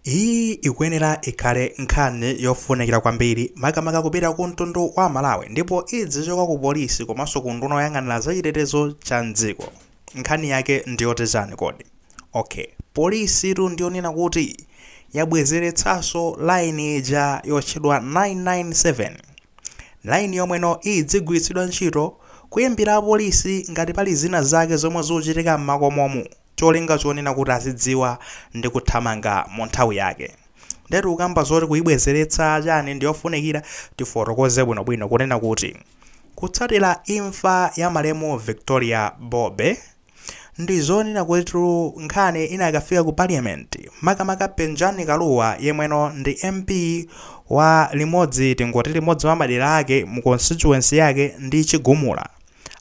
Iyi ikuyenera ikhale nkhani yofunikira kwambiri makamaka kupita ku mtundu wa Amalawi ndipo idzichoka ku polisi komanso ku nduna yoyang'anira za chitetezo cha m'dziko. Nkhani yake ndiyoti chani kodi? Ok, polisitu ndiyonena kuti yabwezeretsanso line ija yotchedwa 997. Line yomweno idzigwiritsidwa ntchito kuyimbira apolisi ngati pali zina zake zomwe zikuchitika m'makomomu. cholinga chonena kuti azidziwa ndi kuthamanga mu nthawi yake. Ndetu tikukamba zoti kuyibwezeretsa chani ndiyofunikira tifotokoze bwinobwino kunena kuti kutsatira imfa ya malemu Victoria Bobe ndizonena kutitu nkhani inakafika ku parliament makamaka Penjani Kalua yemweno ndi MP wa limodzi tingoti limodzi mwa madera ake mu constituency yake ndi Chigumula.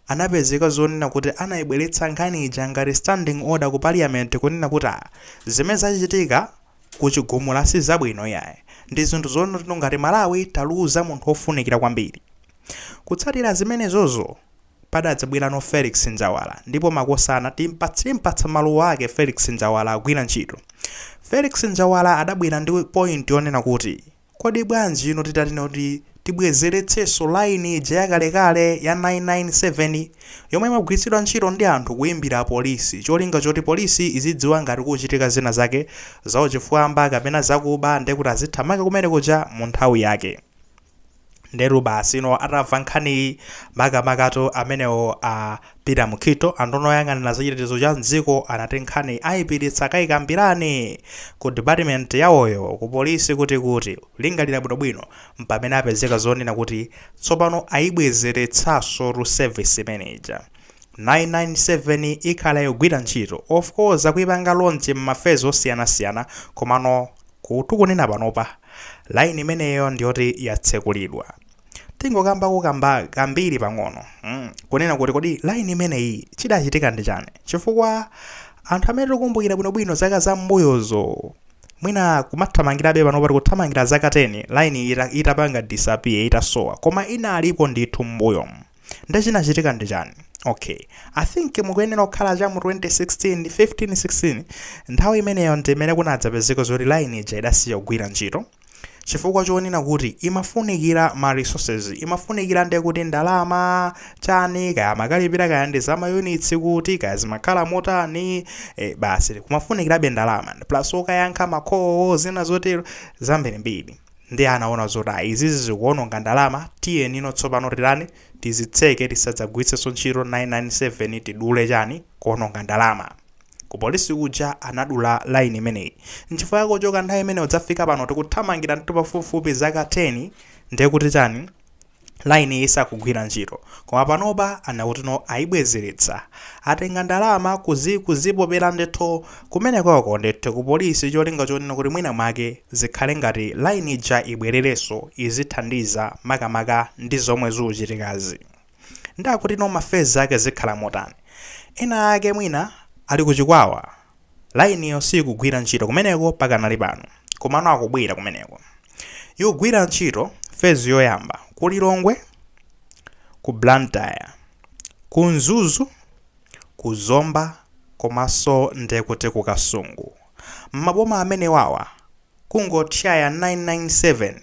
anapezeka zonena kuti anaibweretsa nkhani ija ngati standing order ku parliament kunena kuti ah, zimene zachitika ku chigumula si zabwino iyayi ndi zinthu zonena kuti ngati malawi taluza munthu wofunikira kwambiri kutsatira zimenezozo padadzabwera a felix njawala ndipo makosana timpatsa timpatsa maluwa ake felix njawala agwira ntchito felix njawala adabwera ndi point yonena kuti Kodi bwanji inu titati kuti tibwezeretsenso line ija yakalekale ya 997 yomwe imagwiritsidwa ntchito ndi anthu kuimbira a polisi cholinga choti polisi izidziwa ngati kukuchitika zina zake zauchifwamba kapena zakuba ndi kuti azithamanga kumene kuja mu nthawi yake? ndetu basi ino atamva nkhaniyi makamakatu amenewo a peter mukhito a nduna oyang'anira zachitetezo cha mdziko anati nkhani ayipititsa akayikambirane ku department yawoyo ku polisi kuti akalingalira bwinobwino mpamene apezeka zonena kuti tsopano ayibwezeretsanso tu service imene ija 997 ikhala yogwira ntchito of course akuyipanga launch m'mafezi osiyanasiyana komano Kuti tikunena panopa, line imeneyo ndiyoti yatsekulidwa. Tingokamba kukamba kambiri pang'ono, mm, kunena kuti kodi line imeneyi chidachitika ndi chani? Chifukwa anthu amene tikukumbukira bwinobwino zaka za m'mbuyozo, mwina kumathamangirabe panopa tikuthamangira zaka 10 line ita, itapanga disappear, itasowa, koma inalipo ndithu m'mbuyomu. nde chinachitika ndi chani okay i think mukuyenera kukhala cha mu 2016 15 16 nthawi imeneyo ndimene kunadzapezeka zoti line ija idasiya kugwira ntchito chifukwa chonena kuti imafunikira ma resources imafunikira nde kuti ndalama chani kaya makalipira kaya ndi za mayunitsi kuti kaya zimakhala motani e, basi kumafunikirabe ndalama plus okayankha ma call-wo zina zotero zambirimbiri Ndiye anaona zoti ayi izizi zikuononga ndalama, tiyeni ino tsopano titani, tizitseke tisadzagwiritsenso ntchito 997 tidule chani, kuononga ndalama. Ku polisi kuja anadula line imeneyi. Nchifukwa chake kuchoka nthawi imeneyo kudzafika pano tikuthamangira ndithu pafupifupi zaka 10 ndiye kuti chani, Line isakugwira ntchito koma panopa anakuti no ayibwezeretsa atenga ndalama kuzi kuzipopera ndithu kumenekoko ndithu ku polisi cholinga chonena kuti mwina mwake zikhale ngati line ija ibwererenso izithandiza makamaka ndi zomwe zikuchitikazi ndakuti no mafezi ake zikhala motani ena ake mwina ali kuchikwawa Lainiyo sikugwira ntchito kumeneko pakanali pano. Komano akubwera kumeneko. Yogwira ntchito, fezi yoyamba, ku Lilongwe, ku Blantyre, ku Mzuzu, ku Zomba komanso ndekuti ku Kasungu. M'maboma amenewawa kungotchaya 997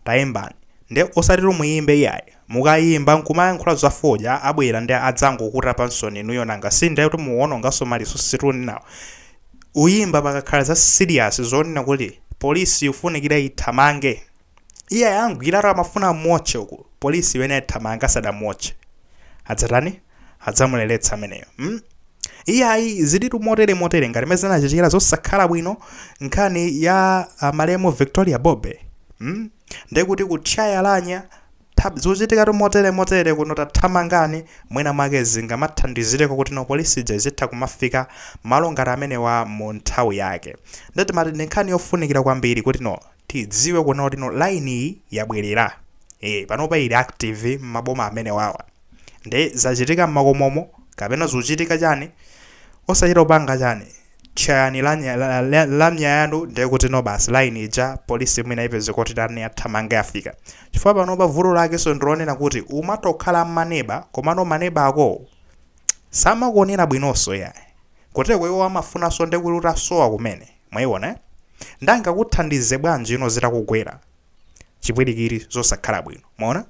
taimbani nde osatitu muyimbe yayi mukayimba nkumayankhula za fodya abwera nde adzangokutapansoni inuyo nanga sindiye kuti muononganso ma resources tunenawo uyimba pakakhala za serious zonena kuti police ifunikira ithamange iye ayamgwiratu akufuna amuotche uku polisi imene ithamanga asadamuotche adzatani adzamuleletsa ameneyo mm? iye ayi zilitu motere motere ngati mene zinachitikira zosakhala bwino nkhani ya ah, malemu victoria bobe mm? ndekuti kutchaya lamya zikuchitikatu motere motere kuno tathamangani mwina mwake zingamathandizireko kuti no police ija izitha kumafika malo ngati amenewa mu nthawi yake nde timati ndi nkhani yofunikira kwambiri kuti no tidziwe kunena kuti no line iyi yabwerera e, panopa ili active m'maboma amenewawa nde zachitika m'makomomo kapena zikuchitika chani osachita kupanga chani tchayani lanya- la- la- la- lamya yanu ndiye kuti no basi line ija polisi mwina ipeze kuti tani athamange afika chifukwa panopa vuto lakenso ndilonena kuti umatokhala m'maneba komano maneba akowo samakuonera bwinonso yayi koteko iwo amafunanso ndi kuti utasowa kumene mwayiona eh? ndangakuthandize bwanji ino zitakugwera chipwirikiti zosakhala bwino mwaona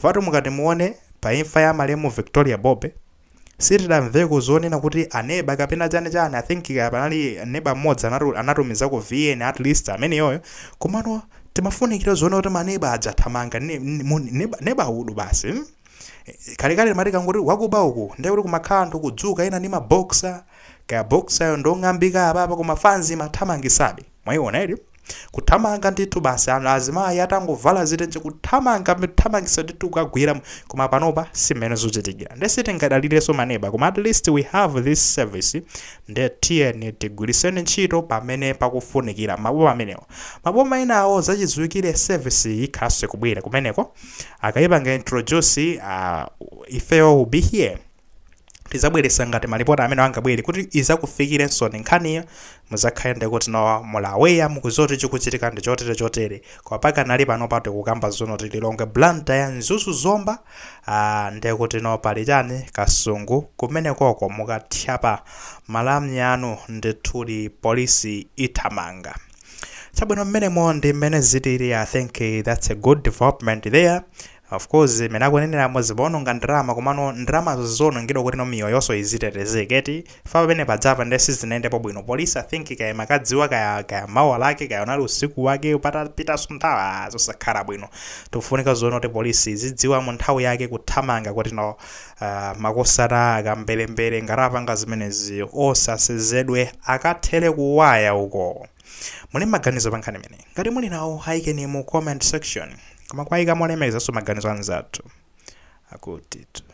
fatu mukati muone pa imfa ya malemu victoria bobe sitidamveko zonena kuti aneba kapena chani chani, i think panali neba mmodzi anati anatumizako vn at least ameneyoyo komano timafunikira zonena kuti maneba aja athamanga ne, ne, mu- neba, neba udu basi mm? Eh, kalekale imati akangoti wakuba uku ndiye kuti kumakhala anthu kudzuka ena ndi maboxer kaya boxer yo ndi yong'ambika apapa koma fanzi imathamangisabe Mwaiona eti Kuthamanga ndithu basi ana azimayi atangovala zitenje kuthamanga kuthamangitsa ndithu kukagwira koma panopa si mmene zuchitikira. Nde sitingadalireso maneba koma at least we have this service nde tiyeni tigwiriseni ntchito pamene pakufunikira mmaboma amenewo. Maboma enawo zachidziwikire service iyi ikhalanso ikubwera kumeneko. Akayipanga introduce uh, ifeyo will be here. tizabweresa ngati malipoti amene angabwere kuti izakufikireninso nkhaniyo muzakhale ndekuti no muli aware mukuziwa kuti chikuchitika ndi chotere chotere koma pakanali panopa tikukamba zonena kuti lilongwe Blantyre Mzuzu zomba ah, ndekuti no pali chani ku Kasungu kumene koko mukatchaya pa lamya yanu ndithudi polisi ithamanga chabwino mmenemo ndi mmene zilili i think eh, that's a good development there Of course mmene akuneneramo zimaononga ndalama komano ndalamazo zizionongedwa kuti no miyoyoso izitetezeka eti? Chifukwa pamene pa Dedza apa nde sizinayendepo bwino police I think kaya imakadziwa kaya kaya mawa lake kaya unali usiku wake patapitanso nthawi aah zosakhala bwino. Zikufunika zonena kuti police izidziwa mu nthawi yake kuthamanga kuti no aah makosana akamberembere ngati apanga zimenezi osasezedwe akathere ku waya uko! Muli maganizo pa nkhani imeneyi? Ngati muli nawo ayikeni mu comment section. Koma kuwayika molemekezanso maganizo a anzathu akuti.